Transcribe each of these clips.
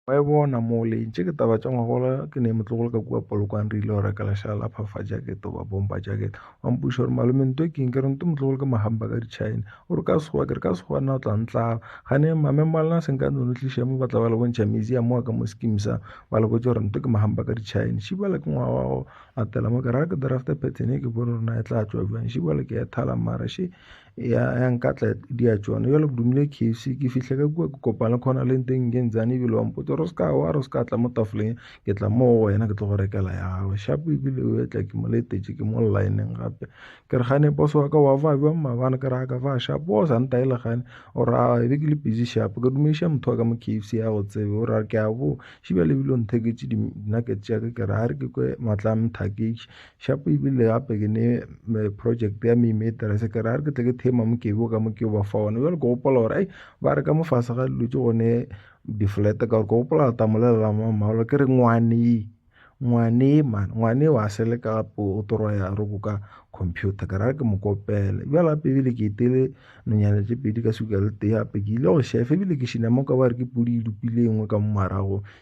Wa e bona mole tše ke taba tša ngwagola ke ne motlogolo ka kua polokwane re ile go reka lešala la phafa jacket goba bomba jacket wa mpuša gore malome nto e keng ke re nto motlogolo ke mahamba ka dichina o re ka sekgowa ke re ka sekgowa nna o tla ntlaba gane mame malena se nka nono tliša mo ba tla ba le bontšha museum wa ka mo skim sa ba le botse gore nto ke mahamba ka dichina šibala ke ngwaga wa go latela mo ke ra ke draft pattern e ke bone rona e tla tšwa bjang šibala ke ya thala mara še ya ya nkatla di ya tšona jalo ke dumile kfc ke fihle ka kua ke kopana le khona le nteng ke ntsane ebile wa mpotsa gore se ka wa re se ka tla mo tafoleng ke tla mo go wena ke tlo go rekela ya gago shapo ebile o etla ke mo letetše ke mo lineng gape ke re gane boss wa ka wa fa jwang mabana ke re a ka fa shapo o sa ntae le gane o re a ebe ke le busy shapo ke dumediša motho wa ka mo kfc ya go tsebe o ra ke a bo šibja lebile o ntheketše dinaketse tša ka ke re a re ke kwe matla a mthaketše Shapo e bile gape ke ne project ya memetera se kere a re ke tle ke thema mokebe o ka mo ke o ba fa one jale ke gopola gore ai ba re ka mo fase ga dilo tse gone di-flete ka gore ke gopola re tamolelela mamaolo ke re ngwane ngwane man ngwane wa seleka gape o torwa ya re go ka computer ka ra ke mo kopele bjale gape ebile ke etele nonyane tše pedi ka suka le tee gape ke ile go šefa ebile ke šinama ka ba re ke podi e lopile e nngwe ka mo morago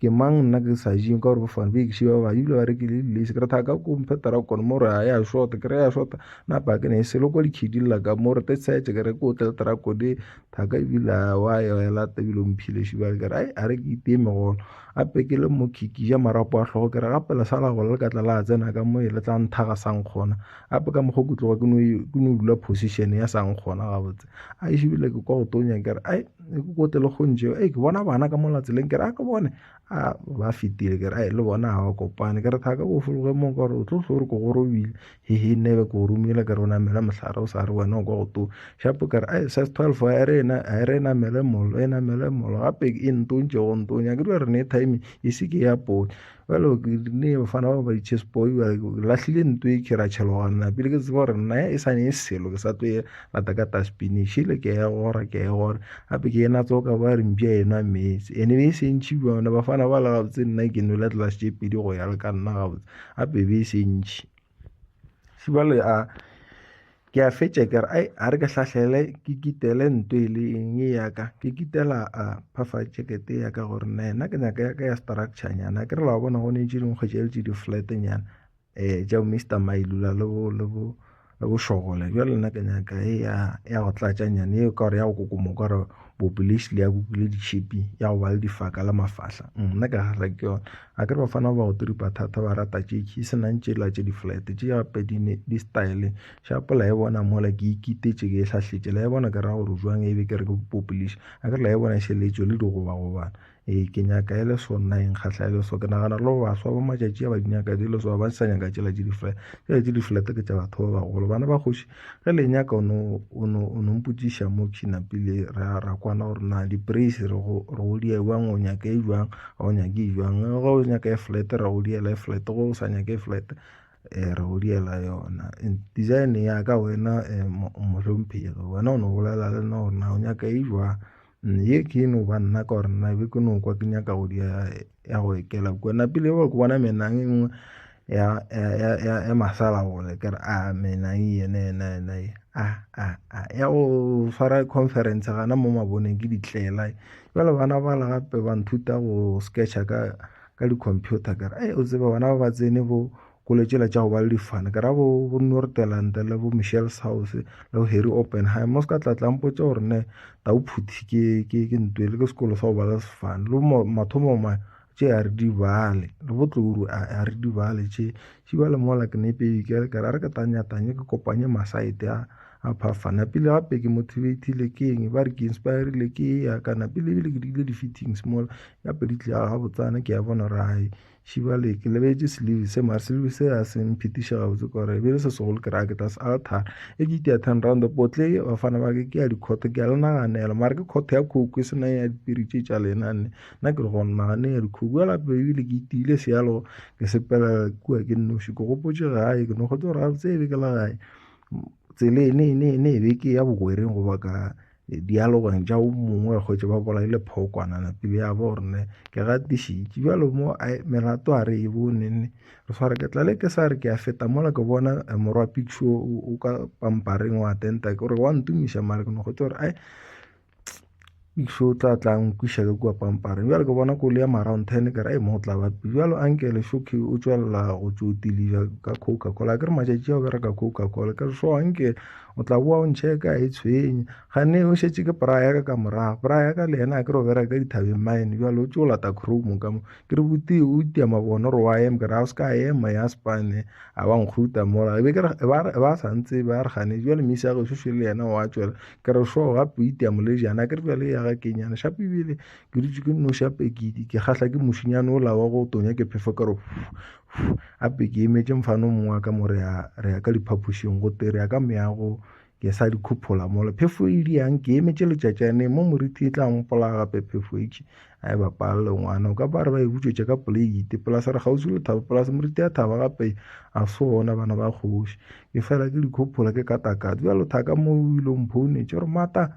ke mang nna ke sa je ka gore ke fane beke šiba ba ebile ba rekile le lace ke re thaka ko mphe tarakon mo re ya shota ke re ya shota na ba ke ne e selo kwa dikgidi lla ka mo re te tsetse ke re ko tle tarakon e thaka ebile a wa ya ya lata ebile o mphile šiba ke re ai a re ke iteme gona a pekele mo kiki ja marapo a tlhogo ke re gape le sala gole le ka tla la tsena ka mo e le tla nthaga sang kgona gape ka mokgwa kutloga ke no ke no dula position ya sang kgona gabotse a e šebile ke kwa go tonya kere ai e ke kote le kgontšeo e ke bona bana ka mola tseleng kere a ke bone a ba fetile kere ai le bona ga ba kopane kere thaka ko fologe mo kore o tlo tlho re ko go robile hehe nebe ko romile kere o namele mohlare o sa re wena o kwa go tona shapo kere ai sas twelve a re ena a re namele molo e namele molo gape e ntontše go ntonya ke dira re ne timing e se ke ya pone bjale ke rile bafana ba ba di-chess boy lahlile nto e ke ra tšheloganna pele ke tseba gore nna e sane e selo ke sa tlo e rata ka taspinish ile ke ya gora ke ya gora gape ke ena tsoka ba re mpša enwa metse ene be e sentšhi bone bafana ba la gabotse nna ke nwele tlelase tše pedi go ya le ka nna gabotse gape be e sentšhi Jwale a ke a fetša ke re ai a re ke hlahlele ke kitele ntho e le eng e ya ka ke kitela a phafa jacket ya ka gore nna yena ke nyaka ya ka ya structure nyana ke re la bona gone tše dingwe kgwetša le tše di flat nyana um tša bo Mister Mailula le bo le bo le bo Shogole bjale nna ke nyaka e ya ya go tlatša nyana eo ka gore ya go koko mokwa gore population ya kukile ditšhipi ya go ba le difaka la mafahla mm, nna ke gahla ke yone a ke re bafana ba go tiripa thata ba rata tšeki e senang tšela tše di-flat tše gape di-style shapo la e bona mola ke ikitetše ke e tlhahletše la e bona ke ra gore jwang e be ke re ke population a ke re la e bona e šeletšo le digobagobana Ee, ke nyaka e le so nna e nkgahla e le so ke nagana le go baswa ba matšatši a ba di nyaka di le so ba sa nyaka tšela tše difela tšela tše diflete ke tša batho ba bagolo bana ba kgoši ge le nyaka o no mpotsiša mo kina pele ra ra kwana gore na di-praise re go re go di jwang o nyaka e jwang ga o nyake e jwang ge o nyaka e flat ra go diela e flat go o sa nyaka e flat um re go diela yona design ya ka wena um mohlomphehi wena o no bolela le nna gore na o nyaka e jwang Ye ke e no ba nna ka gore nna be ke no kwa ke nyaka go dia ya go ekela kwa napile ba ke bona menang e nngwe ya ya ya ya masala gole ke re a menang yene yena yena ye a a a ya go swara conference gana mo maboneng ke ditlela jale bana ba la gape ba nthuta go sketcha ka ka di computer ka re o tsebe bana ba ba tsene bo ko le tšela tša go ba le difane ke ra bo bo nortelante le bo michelle south le bo harry oppenheim mo se ka tlatlang potse gore ne tau phuthi ke ke ke ntwe le ke sekolo sa go ba le sefane le mo mathomo ma tše a re di bale le bo tloru a re di bale tše tše ba le mola ke ne pedi ke re ke ra re ke tanya tanye ke kopanye masaete a a phafana pele gape ke motivate le ke eng ba re ke inspire le ke ya kana pele ebile ke dile di fittings mola ya pedi tle ga botsana ke ya bona rai right. šebjale ke lebetše selebi se mare selebi se a se mphetiša gabotse ka gore e be e le se segolo ke re ke tla se alter e ke ke ya ten round potle bafana ba ke ke ya dikhotho ke ya le naganela mare ke khotho ya khoko e sena ya dipiri tše tša lena nne nna ke re go nagane ya dikhoko ya lape ebile ke itiile sealo ke sepela kua ke nnoši ke gopotše gae ke no kgotse gore gabotse e be ke la gae tsele e ne e ne e ne e be ke ya bogwereng goba ka dialogong tša o mongwe wa kgwetše ba bolai le phokwana napile ya bo rene ke gatišitše bjalo mo melato a re e bonene re sware ke tlale ke sa re ke a feta mola ke bona eh, morwa picture o ka pampareng wa tenta ke gore wa ntumiša mare ke no kgwetše gore ai iso o tla tla nkwiša ka kua pampareng bjale ke bona kole ya maround ten ke ra e mo tla ba bjalo ankele shoke o tswelela go tsotilija ka coca cola ke re matšatši ao bereka coca cola ke re so ankele o tla boa o ntšhe ka e tshwenye gane o šetše ke pora yaka ka morago pora yaka le yena a ke re o bereka ka dithabeng mine bjalo o tse o lata chrome ka mo ke re botee o itia mabono re wa ema ke re ga o se ka ema ya spane a ba nkgruta mola e be ke re e ba e ba sa ntse ba re gane bjale mme sa go shoshe le yena wa tšwela ke re sho ga po itia molejana ke re bjale ya ga ke nyana shape bile ke dutse ke no shape ke di ke gahla ke mushinyane o lawa go tonya ke phefo ka re gape ke emetše mfano mongwe wa ka mo re ya ka diphapošing go te re ya ka meago ke sa di khuphola mola phefo e diang ke emetše letšatšane mo moriti e tla mpola gape phefo itše a e bapalele ngwana o ka ba re ba e butšetše ka poleite polase re kgauswi le thaba polase moriti ya thaba gape a se ona bana ba kgoši ke fela ke dikhuphola ke katakate bjalo thaka mo o ile o mphounetše gore mata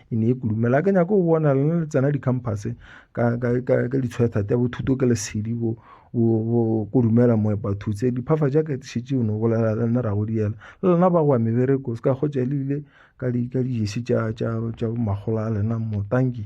e ne e kudumela ke nyako go bona le le tsena di-campus ka ka ka ka ditshwetha tsa bothuto ke lesedi bo bo kudumela mo ba thutse diphafa ja ke shitse no bolela le nna ra go diela le lena ba go mebereko se ka go tša lile ka di ka di jesi tša tša tša magola a lena mo thank you